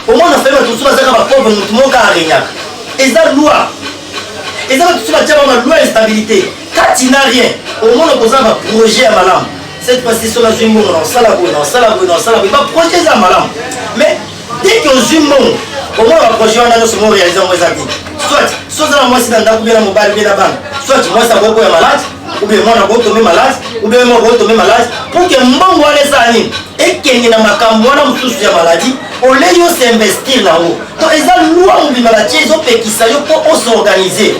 omona fele bato mosusu bazaka bapauvre motu moko aregnaka eza loi eza bato mosusu batya ba maloi ya stabilité kati na rien omona koza na baprojet ya malamu cette fois-ci soki azwi mbongo na osala boye na osala boye na osala boye baprojet eza malamu mais dès que ozwi mbongo omona baprojet wana nyonso mo réalise yango eza te soit soza na mwasi na ndako bie na mobali bie na bana soit mwasi akoki koya malade ou bien mwana ko tombe malade ou bien mwana ko tombe malade pour que mbongo wana eza nini ekende na makambo wana mosusu ya maladie olei osinvestir nango to eza lwa mobimba batie ezopekisa yo mpo osorganize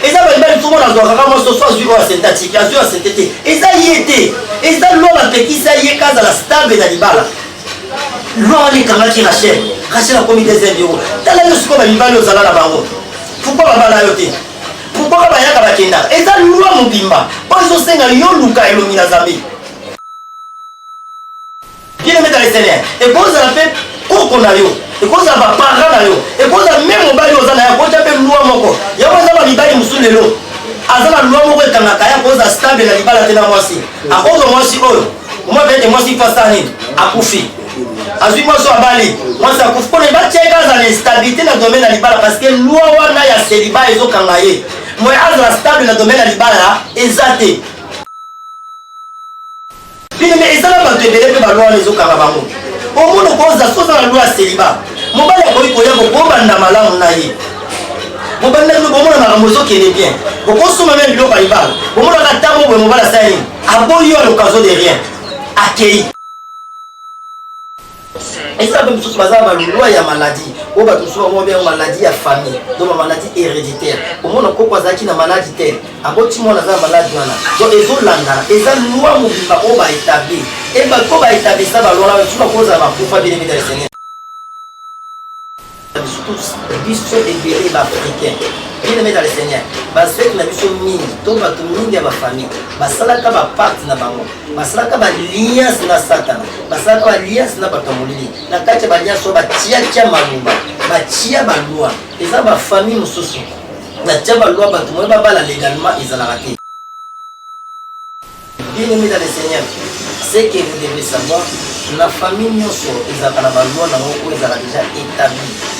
eza balibali somo nazwaka kaka moso so azwi oyo asentatike azwi asente te eza ye te eza lwa bapekisa ye kazala stable na libala loi wana ekangaki rachel rachel akomi deuxième yoko tala yo sikoyo bamibali ozala na bango pourkoi babala yo te pourkoi ka bayaka bakendaka eza loi mobimba oyo ezosenga yo luka elongi na zambe bienemeta lesenea ekozala mpe koko na yo ekozala baparent na yo ekozala me mobali oza na yo akotya mpe lwa moko yango eza bamibali mosusu lelo aza na lwa moko ekangaka ye akozala stable na libala te na mwasi akozwa mwasi oyo mwa bete mwasi mpe asala nini akufi azwi mwasi oyo abali mwasi akufi mpona ebatiaka aza na instabilité na domaine ya libala parce que loi wana ya seliba ezokanga ye moye azala stable na domaine ya libala eza te bino me eza na bato ebele mpe baloi wana ezokanga bango omona okoza soza na loi ya seliba mobali akoki koya kokobanda malamu na ye mobali na bino bomona makambo ezokende bien bokosomba meme biloko ya libala bomonaka ntango boye mobali asala nini aboyi yo à l'occasion de rien akei eza mpe mosusu baza na balwa ya maladi oyo bato mosusu bango babenga maladi ya famille donc bamaladi héréditaire omona koko azalaki na maladi te aboti mwana aza na maladi wana donc ezolandana eza lwa mobimba oyo baetabli e bato baetablisa balwana basusu bakozala bakufa bino mitalisene biso tous biso ebele ba africain bien aimé dans le seigneur baswete na biso mingi to bato mingi ya bafamille basalaka baparte na bango basalaka baliance na satana basalaka baliance na bato ya molili na kati ya baliance oyo batiatia maloba batia balwa eza bafamille mosusu natia balwa bato moye babala legalement ezalaka te Bien-aimé dans le Seigneur, ce que vous devez savoir, na famille nyonso ezalaka na balwa na yango oyo ezalaka déjà établi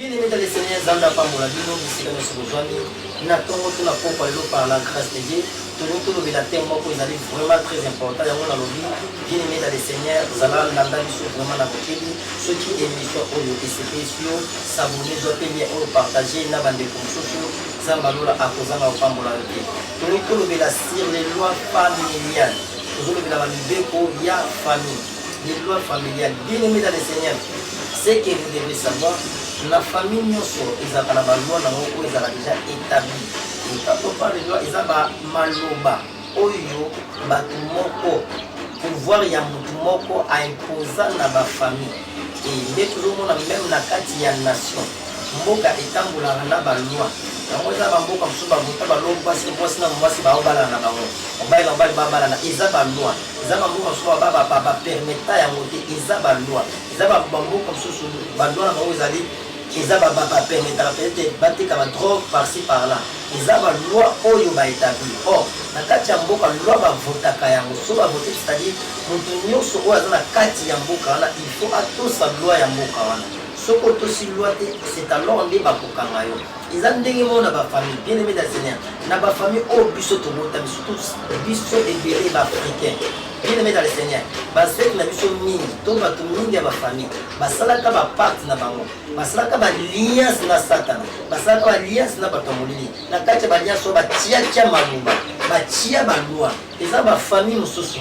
Bien aimé dans le Seigneur, Nzambe apambola bino bisika nyonso bozwami na ntongo to na pokwa lelo par la grâce de Dieu. Tolingi tolobela thème moko ezali vraiment très important, yango nalobi bien aimé dans le Seigneur, zala landa biso vraiment na bokebi. Soki émission oyo esepelisi yo, s'abonner, zwa mpe lien oyo partage na bandeko mosusu. Nzambe ya lola akozanga kopambola yo te. Tolingi tolobela sur les lois familiales, tozolobela ba mibeko ya famille. Les lois familiales, bien aimé dans le Seigneur, ce que vous devez savoir, la famille nyonso ezalaka na baloi na yango oyo ezalaka déjà établi et quand on parle de loi eza bamaloba oyo bato moko pouvoir ya motu moko aimposa na bafamille e nde tozomona meme na kati ya nation mboka etambolaka na baloi yango eza bamboka mosusu bavota baloi mwasi mwasi na mwasi baobalana na bango mobali na mobali babalana eza baloi Eza ba mboka mosusu ba ba ba ba permetta yango te, eza ba loi eza ba ba mboka mosusu ba loi na bango ezali eza ba ba ba permettaka peut etre bateka ba drogue par ci par là eza ba loi oyo ba etablir or na kati ya mboka loi ba votaka yango so ba vote c'est à dire moto nionso oyo aza na kati ya mboka wana il faut atosa loi ya mboka wana soki otosi loi te c'est alors nde bakokanga yo eza ndenge moko na bafamille bien aimé na seigneur na bafamille oyo biso tobotami surtout biso ebele baafricain bien aimé na le seigneur basete na biso mingi to bato mingi ya bafamille basalaka baparte na bango basalaka baliance na satana basalaka baliance na bato ya molili na kati ya baliance oyo batiatia maloba batia balwa eza bafamille mosusu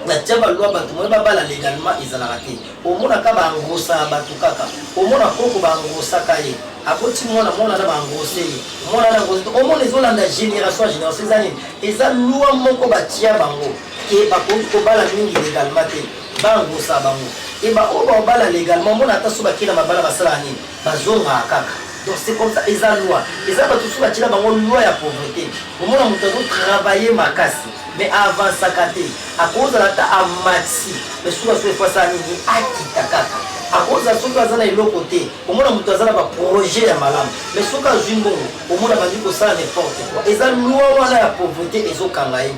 Natia ba loi batu moyen babala legalement ezalaka te omona ka ba engrossa batu kaka omona koko ba engrossa ka ye aboti mwana mwana na ba engrosse ye mwana na engrosse omona ezolanda generation ya generation eza nini eza loi moko batia bango ke bakoki kobala mingi legalement te ba engrossa bango e ba oyo baobala legalement omona ata so bakenda mabala basalaka nini bazongaka kaka donc c'est comme ça eza loi eza bato mosusu batyela bango loi ya pauvreté omona moto azotravaille makasi Mais a avancaka te, akozala ata a maxi mais suka suka il faut asala nini? Akita kaka. Akozala soki aza na eloko te, omona mutu aza na ba projets ya malamu mais soki azui mbongo omona abandi kosala n'importe quoi. Eza loi wana ya pauvrete ezo kanga ye.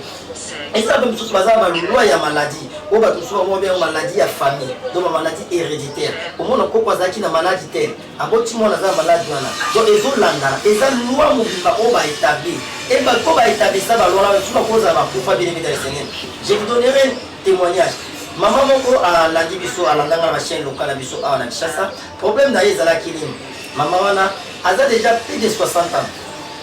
Eza pe misusu baza na ba loi ya maladie oyo batu misusu ba benga yango maladie ya famille donc ba maladie hereditaire. Omona koko azalaki na malade te Aboti mwana aza na malade wana donc ezo landana eza loi mobimba oyo ba etabli et ba ko ba etablisa ba loi wana soki bakozala ba kufa bien aimé dans Seigneur je vous donnerai témoignage maman moko alandi biso alandanga na ba chaîne locale na biso awa na Kinshasa problème na ye ezalaki nini maman wana aza déjà plus de 60 ans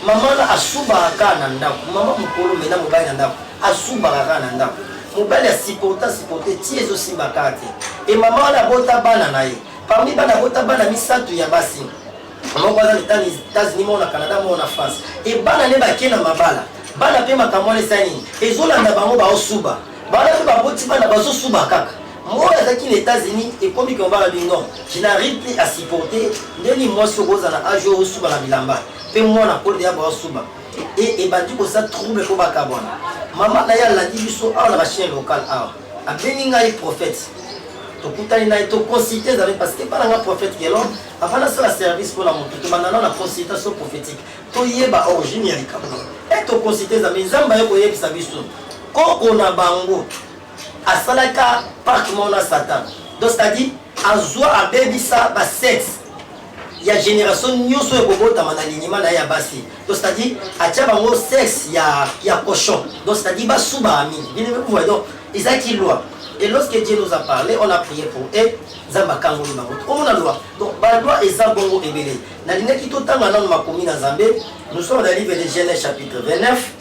maman wana asubaka kaka na ndako maman mokolo mena mobali na ndako asubaka kaka na ndako mobali asiporta siporte ti ezosimba kaka te e maman wana abota bana na ye Parmi bana abota bana misato ya basi, moko aza na Etats-Unis, moko na Canada, moko na France. Et bana ne bake na mabala. Bana pe makambo wana esali nini? Ezolanda bango baosuba. Bana pe baboti bana bazosuba kaka. Moi azalaki na Etats-Unis ekomi ke mobala bi non, je n'arrive plus à supporter ndeni mwasi okoza na age oyo osuba na bilamba pe mwana akoli deya baosuba. Et ebandi kosa trouble po bakabwana. Mama na ye alandi biso awa na ba chaine locale awa. Abengi ngai prophète. Tokutani naye to consulter ezali parce que bana nga prophète Gelon avant nasala service mpo na moto tobanda na na consultation prophétique toyeba origine ya likambo e to consulter ezali nzambe aye koyebisa biso koko na bango asalaka parc mona satan donc c'est-à-dire azwa abebisa ba sexe ya generation nyoso ya kobotama na linima na ye ya basi donc c'est à dire atia bango sexe ya ya cochon donc c'est à dire basubaka mingi bino vous voyez donc ezalaki loi et lorsque dieu nous a parlé on a prié pour e nzambe akangoli bango omona loi donc baloi eza bongo ebele nalingaki totanga nano makomi na nzambe nous sommes na livre de genèse chapitre 29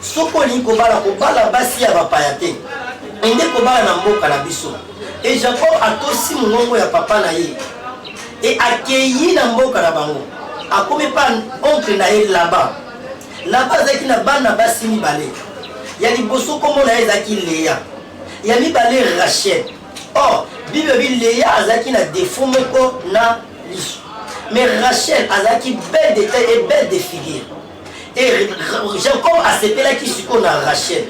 Soki olingi kobala, kobala basi ya bapaya te. Kende kobala na mboka na biso. E Jacob atosi mongongo ya papa na ye e akei na mboka na bango. Akomi pa oncle na ye Laban. Laban azalaki na bana basi mibale. Ya liboso kombo na ye ezalaki Lea, ya mibale Rachel. Or, Bible elobi Lea azalaki na defaut moko na lisu. Mais Rachel azalaki belle de taille et belle de figure. Et Jacob asepelaki sikoyo na Rachel.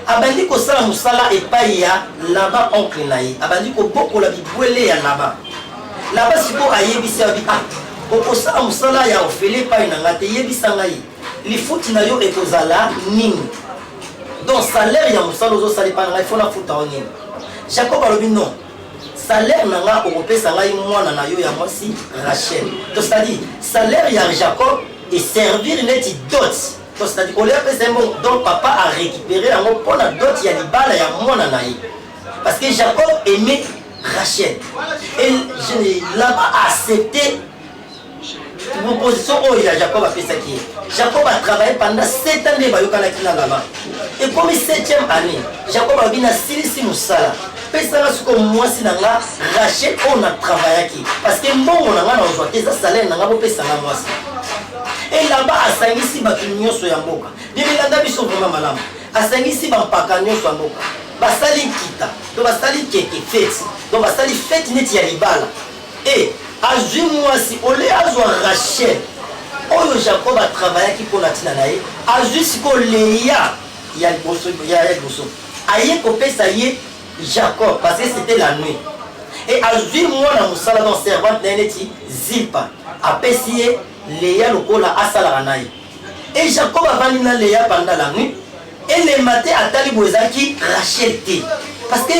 Abandi kosala mosala epai ya Laban oncle na ye. Abandi kobokola bibwele ya Laban. Laban sikoyo ayebisi ya bi ah okosala mosala ya ofele epai na ngai te yebisa ngai lifuti na yo ekozala nini donc salaire ya mosala ozosala epai na ngai fona futa yo nini jacob alobi non salaire na nga okopesa ngai mwana na yo ya mwasi rachel to c'est-à-dire salaire ya jacob eservir neti dot to c'est-à-dire olie apesa ye mbongo donc papa arécupere yango mpo na dot ya libala ya mwana na ye parce que jacob aimait rachel et je ne l'a pas accepté proposition oyo ya jacob apesaki ye jacob atravaille pendant 7 ans nde bayokanaki na lama ekomi 7e année jacob alobi nasilisi mosala pesanga sikoyo mwasi na nga rachel oyo na travaillaki parce que mbongo na nga na ozwa te eza salaire na nga bopesanga mwasi elamba asangisi bato nyonso ya mboka bibilanda biso vraimen malamu asangisi bampaka nyonso ya mboka basali nkita to basali keke feti to basali feti neti ya libala Et azwi mwasi au lieu azwa Rachel oyo Jacob a travaillaki mpo na ntina na ye, azwi sikoyo Lea ya liboso, ya liboso aye kopesa ye Jacob parce que c'etait la nuit et azwi mwana mosala donc servante na ye neti Zilpa apesi ye Lea lokola asalaka na ye et Jacob avandi na Lea pendant la nuit Elemba te atali boye ezalaki Rachel te parce que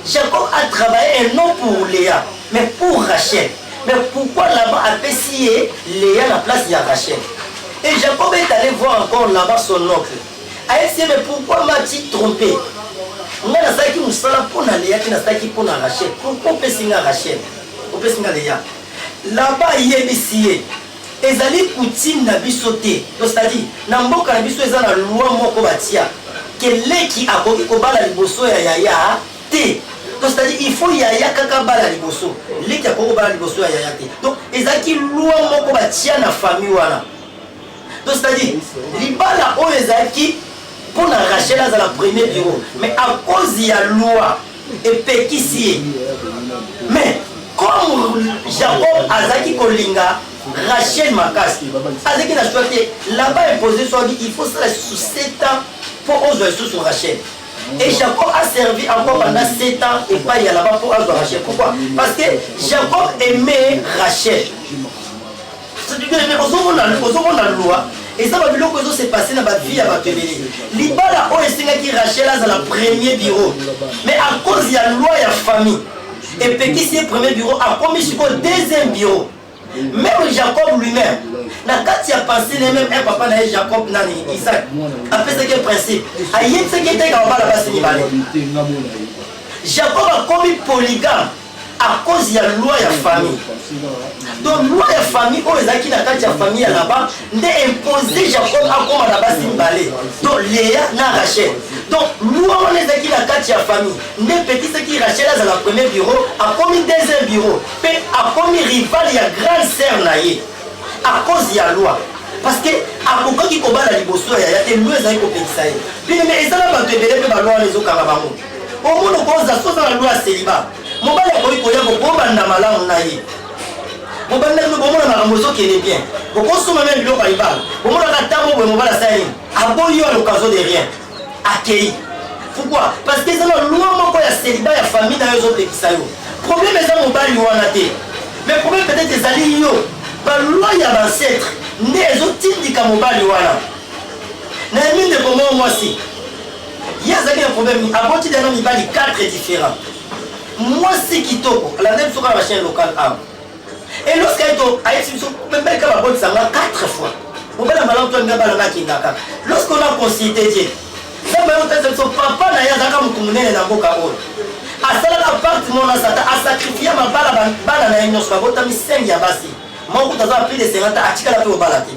Jacob a travaillé et non pour Lea mais pour Rachel mais pourquoi Laban apesi ye Lea na place ya Rachel et Jacob est allé voir encore Laban son oncle ayebisi ye mais pourquoi mati trompe ngai nazalaki mosala mpo na Lea te nazalaki mpo na Rachel pourquoi opesi ngai Rachel opesi ngai Lea Laban ayebisi ye Ezali coutume na biso te donc c'est à dire na mboka na biso eza na loi moko batia que leki akoki kobala liboso ya yaya te donc c'est à dire il faut yaya kaka abala liboso leki akoki kobala liboso ya yaya te donc ezalaki loi moko batia na famille wana donc c'est à dire libala oyo ezalaki mpo na Rachel azala premier bureau mais à cause ya loi epekisi ye mais comme jacob azalaki kolinga rachel makasi azalaki na choix te laba impose soki il faut sala lisusu 7 ans mpo ozwa lisusu rachel Et Jacob a servi encore pendant 7 ans et pas Yalaba pour Rachel. Pourquoi Parce que Jacob aimait Rachel. ozomona loi eza babiloko ezo se passe na bavie ya bato ebele libala oyo esengaki rachel azala premier bureau mais à cause ya loi ya famille epekisi ye premier bureau akomi sikoyo deuxième bureau meme jacob lui-même na kati ya pensé ne meme un papa na ye jacob nani isaac apesaki ye principe ayebisaki eteka babala basi mibale jacob akomi polygame à cause ya loi ya famille donc loi ya famille oyo ezalaki na kati ya famille ya laban nde impose jacob akoma na basi mibale to lea na rachel donc loi wana ezalaki na kati ya famille nde epekisaki rachel azala premier bureau akomi deuxième bureau mpe akomi rival ya grande sœur na ye à cause ya loi parce que akokaki kobala liboso ya yaya te loi ezalaki kopekisa ye bino me eza na bato ebele mpe baloi wana ezokanga bango omona okoza soza na loi ya seliba mobali akoki koya bokobanda malamu na ye mobali na bino bomona makambo ezokende bien bokosoma meme biloko ya libala bomonaka ntango boye mobali asala nini aboyi yo alokazo de rien akei pourquoi parce que eza na loi moko ya seliba ya famille na yo ezopekisa yo problème eza mobali wana te mais problème peut-être ezali yo balwa ya bancetre nde ezotindika mobali wana na yemi ndeko moko mwasi Ye azalaki na problème nini? Aboti deja na mibali 4 differents. Mwasi kitoko, alandaki biso kaka na chaîne locale awa. Et lorsque aye to ayebisi biso meme kaka babotisa nga 4 fois. Mobali ya malamu to alinga bana nga akenda kaka. Lorsque on a consulté Dieu, Nzambe aye kotalisa biso papa na ye azalaka motu monene na mboka oyo. Asalaka pacte moko na Satan, asakrifia mabala ba- bana na ye nyonso, babotami 5 ya basi. Moko kutu aza na plus de 50 ans, atikala mpe kobala te.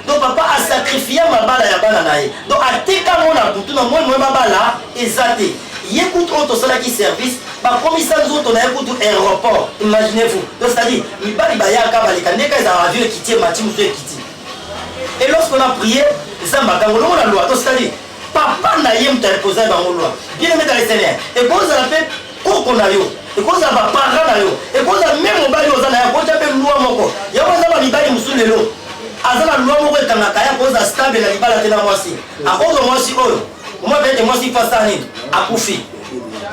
donc papa a sacrifia mabala ya bana na ye donc ateka ngo na butu na moi moi babala eza te ye kutu oyo tosalaki service bakomisa nzoto na ye kutu aéroport imaginez vous donc c'est à dire mibali bayaka baleka ndeka ezala avion ekiti emati mosu ekiti et lorsqu'on a prié nzambe akango longo na lwa donc c'est à dire Papa na ye moto ya likonzi na ye bango lwa. Bien aimé dans le Seigneur, ekoki kozala mpe koko na yo, ekoki kozala ba parents na yo, ekoki kozala meme mobali oyo oza na ye akoki kotya mpe lwa moko. Yango eza ba mibali mosusu lelo aza na lwa moko ekangaka ye, akoki kozala stable na libala te na mwasi, akoki kozwa mwasi oyo omwa mpe ete mwasi mfa asala nini, akufi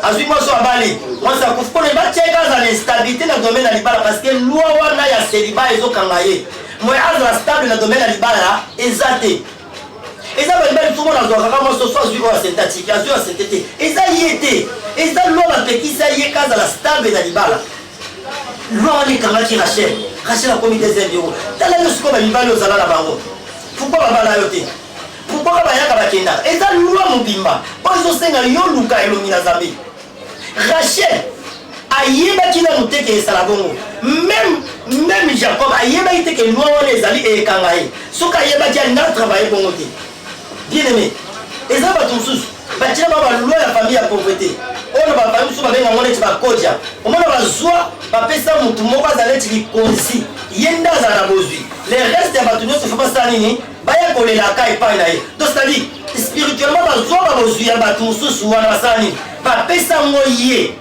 azwi mwasi oyo abali mwasi akufi mpo na batya ye kazala na instabilité na domaine ya libala parce que lwa wana ya celibat ezokanga ye moye azala stable na domaine ya libala eza te eza balibali mfumo nazwaka kaka mwa soso azwi oyo asente atiki azwi oyo asente te eza ye te eza lwa bapekisa ye kazala stable na libala lwa wana ekangaki rachel rachel akomi deuxième yoko tala yo sikoyo bamibali ozala na bango pourkoi babala yo te pourkoi ka bayaka bakendaka eza lwa mobimba oyo ezosenga yo luka elongi na zambe Rachel ayebaki nanu te ke ezala bongo meme meme jacob ayebaki te ke loi wana ezali ekanga ye soki ayebaki alingi atravaille bongo te bien aimé eza bato mosusu batia ba baloi ya famille ya pauvreté oyo na bafamille mosusu babenga yango neti bakodia omona bazwa bapesa motu moko azala neti likonzi ye nde azala na bozwi le reste ya bato nyonso fo basala nini baya kolelaka epai na ye to cetadire spirituellement bazwa babozwi ya bato mosusu wana basala nini bapesa yango ye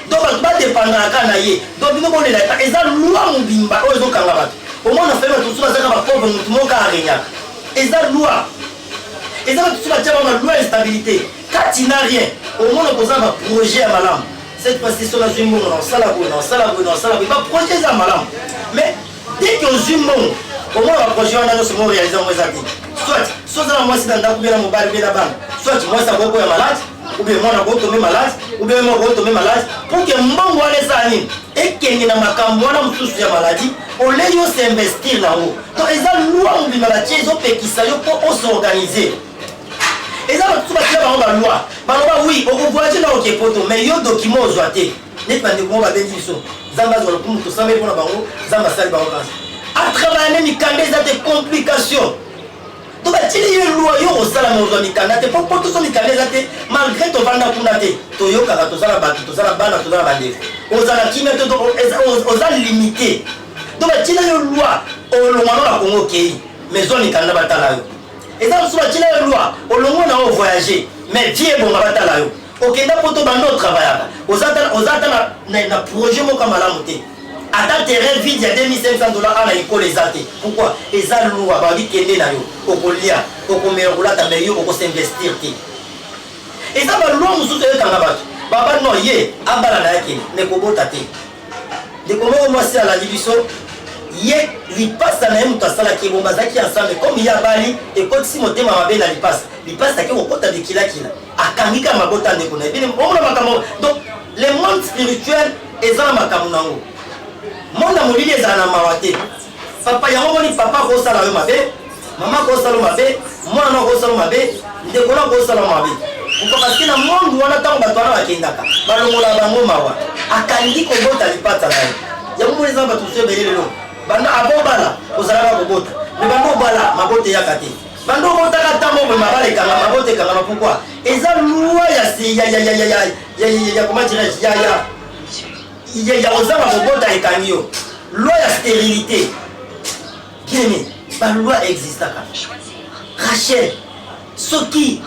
to bato badepandaka na ye to bino bolela epa eza lwa mobimba oyo ezokanga bato omona fai bato mosusu bazaka bapauvre motu moko arenyaka eza lwa eza bato mosusu batyaka balwa instabilité kati na rien omona koza baprojet ya malamu cette fois-ci soki nazwi mbongo na osala boye na osala boye na osala boye baprojet eza malamu mais Dès que ozwi mbongo, omona ba projet wana nyonso mo realiser yango eza te. Soit so oza na mwasi na ndako, bien na mobali, bien na bana, soit mwasi akoko ya malade, ou bien mwana akoko tombe malade, ou bien moko akoko tombe malade, pour que mbongo wana eza nini ekende na makambo wana mosusu ya maladie olei yo se investir na yango. Donc eza loi mobimba batie ezopekisa yo mpo osorganiser eza basusu batia bango balwa baloba wi okovoyage na oke poto mais yo document ozwa te neti bandeko moko babendi biso nzambe azwa lokumu tosambeli mpo na bango nzambe asali bango kasi atravaille ne mikanda eza te complication to batili ye lwa yo kosala na ozwa mikanda te mpo mpo tozwa mikanda eza te malgré tovanda kuna te toyokaka toza na bato toza na bana toza na bandeko oza na kimia te oza limité to batila yo lwa olongwano na kongo okei mais zwa mikanda batala yo eza mosusu batila yo lwa olongwa na yo voyage mais vie ebonga batala yo Okenda poto banda o travaillaka. Oza ata oza ata na, na, na projet moko malamu te. Ata terrain vide ya 2500 dollars ana ikole eza te. Pourquoi? Eza lua ba bi kende na yo. Okolia, okomela kulata mais yo oko s'investir te. Eza ba loi mususu ekanga batu. Baba no ye abala na yake mais kobota te. Ndeko moko mwasi alandi biso ye lipasa na ye moto asalaki ebongo bazalaki ensemble comme ye abali ekotisi motema mabe na lipasa lipasa ake kokota bikilakila akangi ka mabota ndeko na ye bino omona makambo donc le monde spirituel eza na makambo nango monde ya molili ezala na mawa te papa yango moni papa akosala yo mabe mama akosala yo mabe mwana no akosala yo mabe ndeko no akosala yo mabe parce na monde wana ntango bato wana bakendaka balongola bango mawa akangi kobota lipata na ye yango moni eza na bato mosusu ebele lelo banda abobala ozalaka kobota me banda obala mabota eyaka te bando obotaka ntango omwe mabala ekanga mabota ekanga mapukwa eza lwa ya comment dirais-je ya ya ya ya ozanga kobota ekangi yo lwa ya stérilité bien balwa existaka rachel soki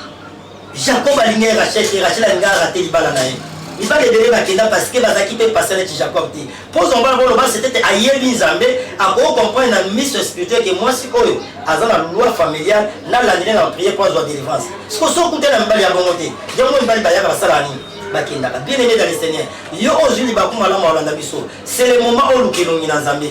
Jacob alingaki Rachel te, Rachel alingaki arate libala na ye. Mibali ebele bakenda parce que bazalaki mpe patient neti Jacob te. Mpo ozwa mwana moko loba sete te ayebi Nzambe, akoki comprendre na miso ya spirituel ke mwasi oyo aza na loi familiale, nalandeli na prière mpo azwa delivrance. Siko soki okutani na mibali ya bongo te, yango mibali bayaka basalaka nini? bakendaka bien aimé dans le seigneur yo ozwi libaku malamu alanda biso c'est le moment oluka elongi na nzambe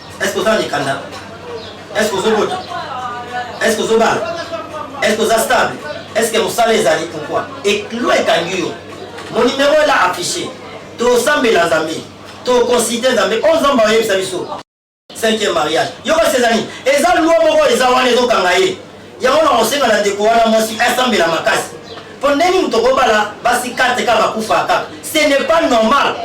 Est-ce que oza na mikanda? Est-ce que ozobota? Est-ce que ozobala? Est-ce que oza stable? Est-ce que mosala ezali pourquoi? Eklo ekangi yo. Mon numéro est là affiché. Tosambela Nzambe. Toconsulte Nzambe. Oyo Nzambe ayebisa biso. Cinquième mariage. Yo kasi ezali. Eza loi moko eza wana ezokanga ye. Yango nakosenga na ndeko wana mwasi asambela makasi. Po ndenge moto kobala basi 4 kaka bakufa kaka. Ce n'est pas normal.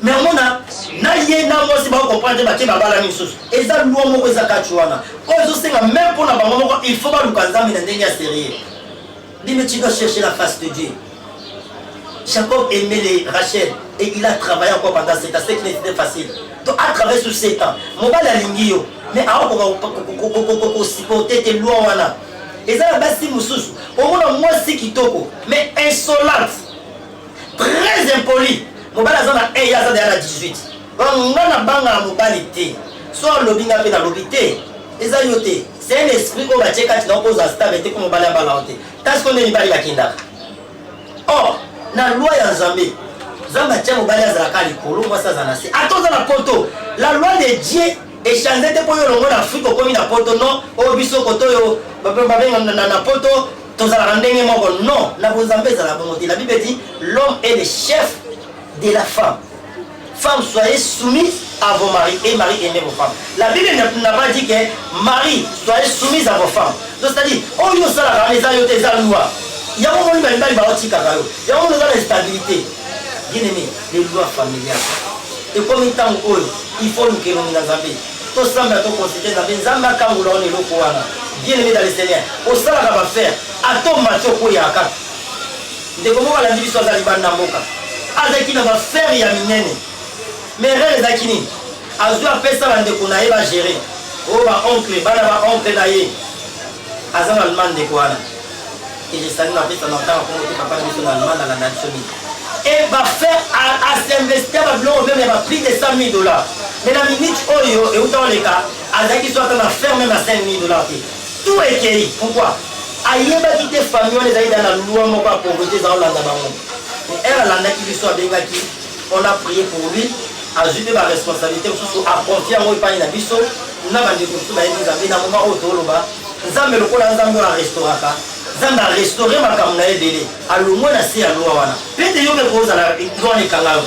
Mais omona na ye na mwasi ba comprendre ba ke babala misusu. Eza loi moko eza kati wana. Oyo ezosenga même pona bango moko il faut baluka Nzambe na ndenge ya serieux. Dis mais tu dois chercher la face de Dieu. Jacob aimait les Rachel et il a travaillé encore pendant 7 ans, ce qui n'était facile. Donc a travaillé sur 7 ans. Mobali alingi yo, mais aokoka kosupporter te loi wana. Eza na basi mosusu, omona mwasi kitoko, mais insolente, très impolie. Mobali aza na 1 ye aza deya na 18. Vraiment nga na banga na mobali te. So alobi nga pe na lobi te. Eza yo te. C'est un esprit oyo batie kati na oko za stable te ko mobali abala yo te. Kasi ko nde mibali bakendaka. Or, na loi ya Nzambe, Nzambe atia mobali azala ka likolo, mwasi aza na se. Ata oza na poto, la loi de Dieu echange te po yo longo na Afrique okomi na poto non, oyo biso koto yo babenga na, na, na poto tozalaka ndenge moko non, na bonzambe ezala bongo te. La Bible dit l'homme est le chef de la femme. Femme soyez soumise à vos maris et maris aimez vos femmes la bible n'a pas dit que marie soyez soumise à vos femmes donc c'est à dire oyo oh, osalaka wana eza yo te eza loi yango omoni bamibali baotikaka yo yango omoni oza na stabilité bien aimé les lois familiales ekomi ntango oyo il faut luka elongi na nzambe tosambela tokonsulte nzambe nzambe akangola ona eloko wana bien aimé dans le seigneur osalaka bafere ata omati okweyaka Ndeko moko alandi biso aza libanda mboka. Azalaki na ba ferre ya minene. Mais erreur ezalaki nini? Azui apesa ba ndeko na ye ba gerer. Oh ba oncle, bana ba oncle na ye. Aza na Allemagne ndeko wana. Et je salue na pesa na tanga kongo te papa na biso na Allemagne na nation mingi. Et ba ferre a, a s'investir ba biloko même ba prix de 100 000 dollars. Mais na minute oyo euta oleka azalaki soit na ferre même na 5 000 dollars te. Tout ekeyi pourquoi? Ayebaki te famille wana ezalaki dejà na loi moko ya pauvrete eza kolanda bango. Mais heure alandaki biso abengaki on a prie pour lui azui pe ba responsabilites mosusu a confier yango epayi na biso na ba ndeko mosusu bayebi Nzambe na moment oyo toloba Nzambe lokola Nzambe oyo a restauraka Nzambe a restaurer makambo na ye ebele alongwe na se ya loi wana. Pete yo pe kozala loi wana ekanga yo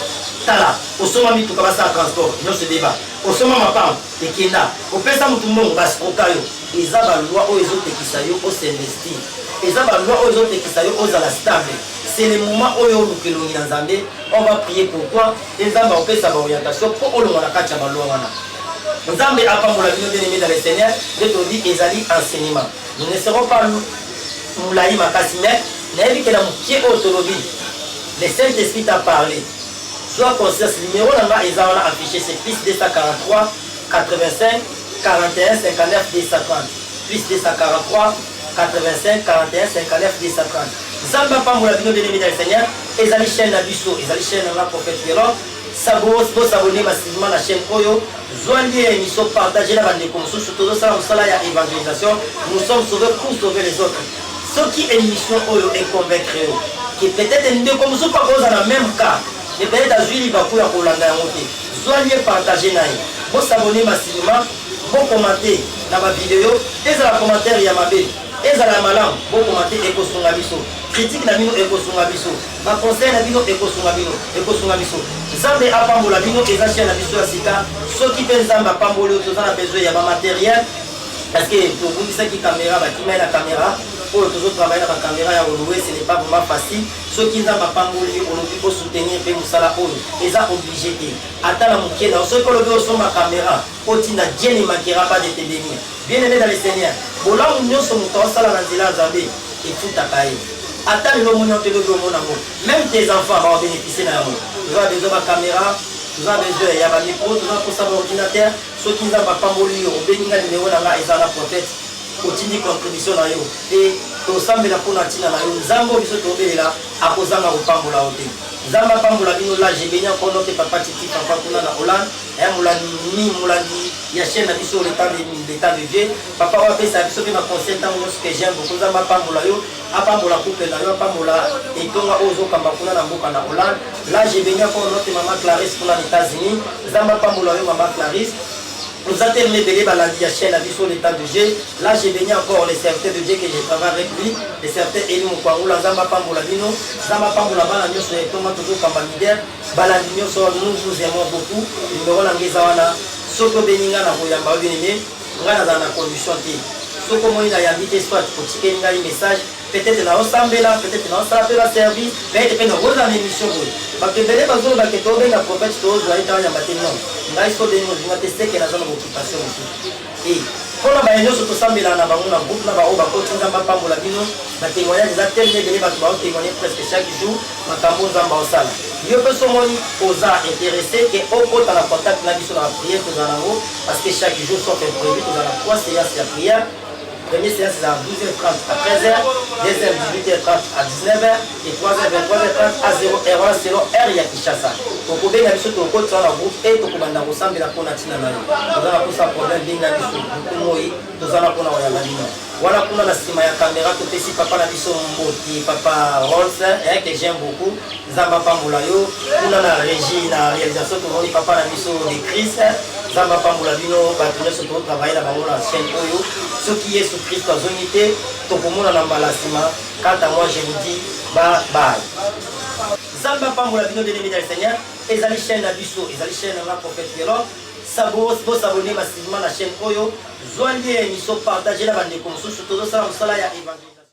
tala osomba mituka basala transport nionso ebeba osomba mapango Te kenda ko pesa mutu mbongo ba scroka yo eza ba loi oyo ezo pekisa yo o s'investir eza ba loi oyo ezo pekisa yo ozala stable c'est le moment oyo oluka elongi na Nzambe on va prier pour toi et Nzambe akopesa ba orientation po olongwa na kati ya ba loi wana Nzambe apambola bino bien aimé dans le Seigneur nde tolobi ezali enseignement nous ne serons pas mulayi makasi mais nayebi ke na mokie oyo tolobi le Saint-Esprit t'a parlé Zua conscience numero na nga eza wana affiche c'est +243 85 49 230 +243 85 49 230 Zambe apambola bino bien aimee dans le seigneur ezali chaine na biso ezali chaine na nga prophète Pierrot sabos bo s'abonner massivement na chaine oyo zua lien ya emission partager na ba ndeko mosusu tozo sala musala ya evangelisation nous sommes sauvés pour sauver les autres Soki emission oyo e convaincre yo que peut-etre ndeko mosusu akoza na meme cas mais peut-etre azui libaku ya kolanda yango te, zua lien partager na ye. Bo s'abonner ma cinema, bo commenter na ba videos, ezala commentaire ya mabe, ezala ya malamu, bo commenter ekosunga biso. Critique na bino ekosunga biso, ba conseils na bino ekosunga bino, ekosunga biso. Nzambe apambola bino, eza chaine na biso ya sika. Soki pe Nzambe apamboli yo, toza na besoin ya ba materiels. Parce que tobungisaki camera bakimai na camera oyo tozo travailler na ba camera ya olowe ce n'est pas vraiment facile soki nzambe apamboli yo olobi o soutenir pe musala oyo eza oblige te ata na mukie na soki olobi osomba camera otinda jenny makera pas de te bénir bien aimé dans le seigneur bolamu nyonso moto asala na nzela ya nzambe efutaka ye ata lelo omoni yango todoki omona yango même tes enfants bawa bénéficie na yango toza besoin ba camera toza besoin ya ba micro toza mposa ba ordinateur Soki nzambe apamboli yo obengi nga numero na nga eza na protet otindi contribution na yo pe tosambela pona tina na yo nzambe oyo biso tobelela akozanga kopambola yo te nzambe apambola bino la je beni encore notre papa titi papa kuna na hollande eh, molandi molandi ya chaîne na biso le temps de, le temps de vie papa oyo apesa biso pe na conseil ntango nyonso que j'aime beaucoup nzambe apambola yo Apambola couple na yo, apambola etonga oyo ozokamba kuna na mboka na Hollande. Là je beni encore notre maman Clarisse kuna na Etats-Unis. Nzambe apambola yo maman Clarisse. Nous a tellement béni balandi ya chaîne à biso l'état de Dieu. Là je beni encore le serviteur de Dieu que je travaille avec lui, le serviteur Eli Mukwangula Nzambe apambola bino. Nzambe apambola bana nyonso ya etonga tozokamba leader. Balandi nyonso nous vous aimons beaucoup. Numéro na ngai eza wana. Soki obeni ngai na koyamba yo bien aimé. Nga nazala na condition te soki omoni na yambi te soit otikeli ngai message peut-être na osambela peut-être na osala pe ba service mais ete pe na oza na émission boye bato ebele bazoloba ke tobenga prophète tozwa ye tayamba te non ngai so obengi ozinga te seke naza na boccupation mosusu e mpona baye nyonso tosambelaka na bango na groupe na baoyo bakoti nzambe apambola bino batemoignage eza telema ebele bato baotemoigne presque chaque jour makambo nzambe aosala yo mpe somoni oza interesse ke okota na contact na biso na bapriere tozala nango Parce que chaque jour, sauf imprévu, nous avons trois séances de prière. Première séance est à 12h30 à 13h, deuxième 18h30 à 19h et troisième 23h30 à 0h wana selon heure ya Kinshasa. Tokobenga biso tokotisa na groupe et tokobanda kosambela mpo na ntina na yo. Toza na mposa problème benga biso buku moi toza na mpo na koyamba bino. Wana kuna na nsima ya kamera topesi papa na biso mboti papa Rolls eh, que j'aime beaucoup Nzambe apambola yo kuna na regie na realisation tomoni papa na biso de Christ nzambe apambola bino bato nyonso totravaille na bango na chaîne oyo soki yesu kristo azongi te tokomonana mbala nsima kanta moi je vous dis bye bye nzambe apambola bino bien aimé dans le seigneur ezali chaîne na biso ezali chaîne na nga prophète yelo bosabone massivement na chaîne oyo zwa lie émission partage na bandeko mosusu tozosala mosala ya évangile